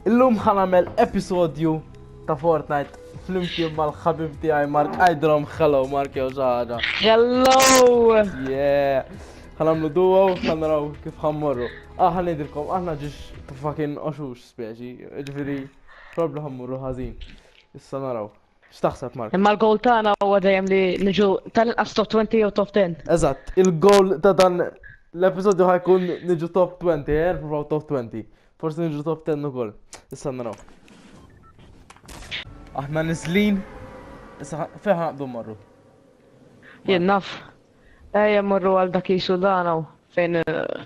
Illum ħa nagħmel episodju ta' Fortnite flimkien mal-ħabib tiegħi Mark Ajdrom. Hello Mark jew xi ħaġa. Hello! Yeah! Ħa nagħmlu duo, ħa naraw kif ħammorru. Ah, ħa ngħidilkom, aħna ġiex fucking oxux speċi, ġifieri probabli ħammorru ħażin. Issa naraw. X'taħseb Mark? Imma l-goal tagħna huwa dejjem li niġu tal-inqas top 20 jew top 10. Eżatt, il-goal ta' dan l-episodju ħajkun niġu top 20, eh, provaw top 20. Forsi niġu top 10 ukoll. Issa naraw. Aħna niżlin, issa fejn ħanqdu marru. Jien naf. Ejja morru għal dak jisu danaw fejn eh,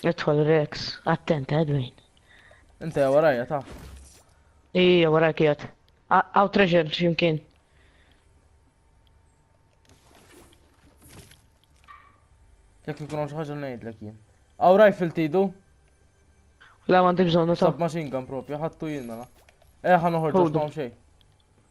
Idħol Rex, attent Edwin. Inta warajja ta. Ija warajja kiet. Għaw treasure ximkien. Jek ikun għax ħagġa ngħidlek jien. Għaw rifle tidu? La ma għandek bżonnu ta. Sab machine gun propju, ħattu jien mela. Eh ħan uħorġu xejn.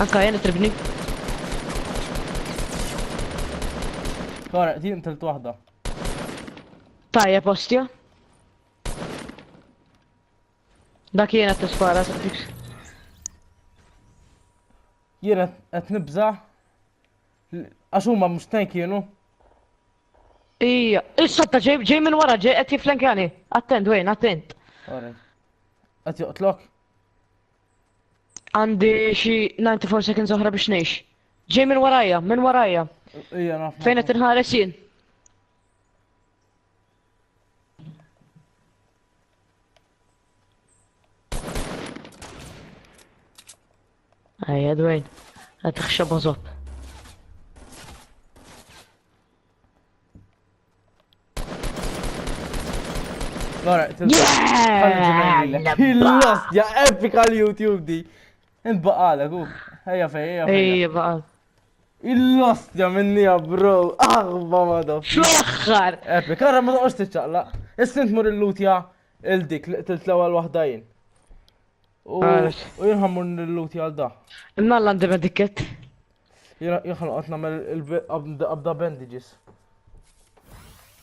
Anka jena tribni. Kara, di intilt wahda. Tajja postja. Dak jena t-spara, t-tiks. Jena t-nibza. Għax huma mhux tank kienu. Ija, issa ta' ġej ġej minn wara ġej qed jiflenkjani. Attent Wayne, attent. Għati joqtlok? Għandi xi 94 seconds oħra biex ngħix. Ġej minn warajja, minn warajja. Ija naf. Fejn qed inħares jien? Ejja dwejn, qed taħxab Lora, il-lost, ja epika l-YouTube di. Int baqala, ku. Ejja fej, ejja fej. Ejja baqal. Il-lost ja minni ja bro, aħba ma dof. Xlaħħar! Epi, karra ma doqx tiċċaqla. Issint mur il-lut ja il-dik li qtilt l-ewwel waħda jien. U jinħammur il-lut ja da. Imma l-għandi medikket. Jena jħan għat namel il-abda bandages.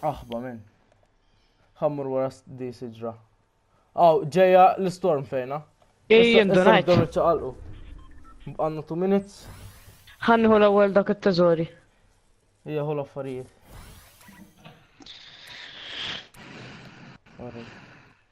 Aħba minn. Għammur wara di siġra. Aw, ġeja l-storm fejna. Ej, ndonajt. Għanna 2 minutes. Għannu l-ewel dak il-teżori. Ija, hu l-affarijiet.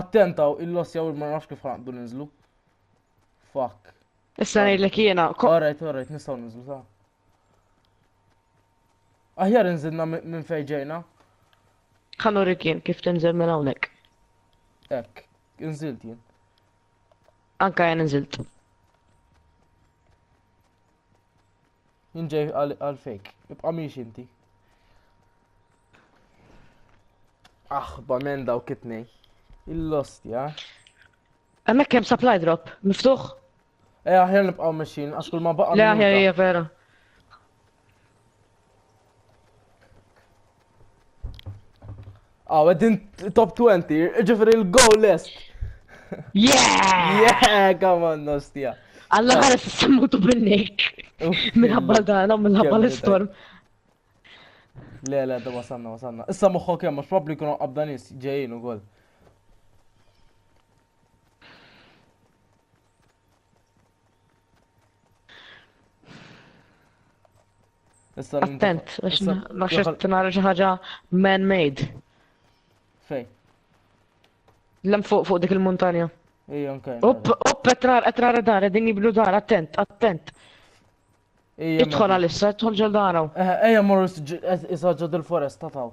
Attentaw, il-loss jaw ma nafx kif ħanqdu ninżlu. Fuck. Issa ngħidlek jiena. Alright, alright, nistgħu ninżlu ta'. Aħjar inżilna minn fejn ġejna. Ħanu rikien kif tinżel minn hawnhekk. Ekk, inżilt jien. Anka jien inżilt. Inġej għal fejk. Ibqa' miex inti. Aħba men daw kitnej. Il-lost, ja? Emmek kem supply drop, miftuħ? Eh, aħjar nibqaw meċin, għax kull ma baqa. Le, aħjar hija vera. Aw, għedin top 20, ġifri l-goal list. Yeah! Yeah, come on, nostia. Alla għara s-sammutu bil-nek. Minħabba dana, minħabba l-storm. Le, le, da wasanna, wasanna. Issa moħħok jem, mux probabli kunu qabdanis ġejjin u għol. Issa l-inta- Attent, għax issa- ma xed tinara xi ħaġa man-made. Fej. Lem fuq fuq dik il-montanja. Ija, nkaj. Upp, upp, qed nara- qed nara dar, qegħdin jibnu dar, attent, attent. Ija, Idħol għalissa, idħol ġol daraw. Eja, morru issa ġod il-foresta taw.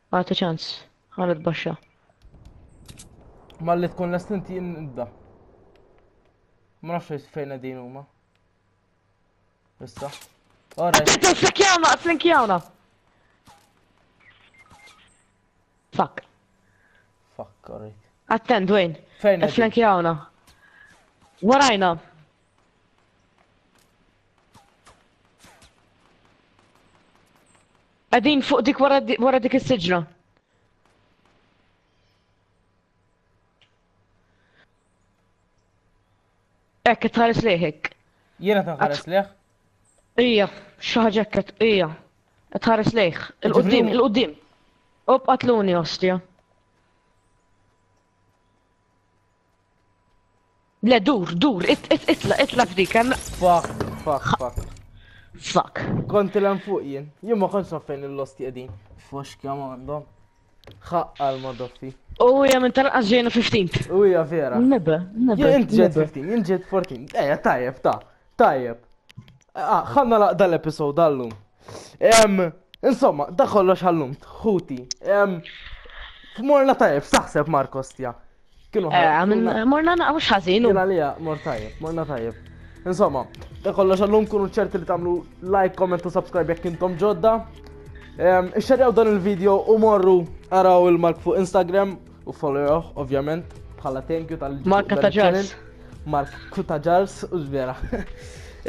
Għati ċans, għalet baxxa. Ma li tkun lest inti nibda. Ma nafx fejn din huma. Issa. Ora. Tito xekjawna, flinkjawna. Fuck. Fuck, alright. Attent, Dwayne. Fejn? Flinkjawna. Warajna. Qegħdin fuq dik wara dik is-siġra. Ekk, qed tħares leħek. Jiena qed nħares leħ? Ija, xi ħaġa qed ija. Qed tħares leħ. Il-qudiem, il-qudiem. Ob qatluni ostja. Le, dur, dur, itla, itla f'dik, hemm. Fuck, fuck, fuck. Fuck. Kont il fuq jien. Jien ma kontx fejn il-lost jedin. Fux kemm għandhom. Ħaqqa l-madoffi. U hija minn tal-qas ġejna 15. U hija vera. Nibbe, nibbe. Jien int ġejt 15, jien ġejt 14. Ejja, tajjeb, ta' tajjeb. Ah, ħanna laqda l-episod għallum. Insomma, da kollox għallum, ħuti. F'morna tajjeb, saħseb Markos tja. Kienu eh, Morna naqaw xħazinu. Jena lija, mor tajib, morna tajib. Insomma, da kollox għallum kunu ċerti li tamlu like, comment u subscribe jek intom ġodda. Ixxarjaw dan il-video u morru għaraw il-mark fuq Instagram u followuh, ovvjament, bħala thank you tal Mark Kutaġars. Mark Kutaġars, u ġvera.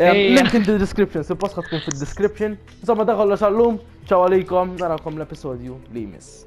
Link in the description, suppost tkun fil-description. Insomma, da kollox għallum, ċaw għalikom, narakom l-episodju li jmiss.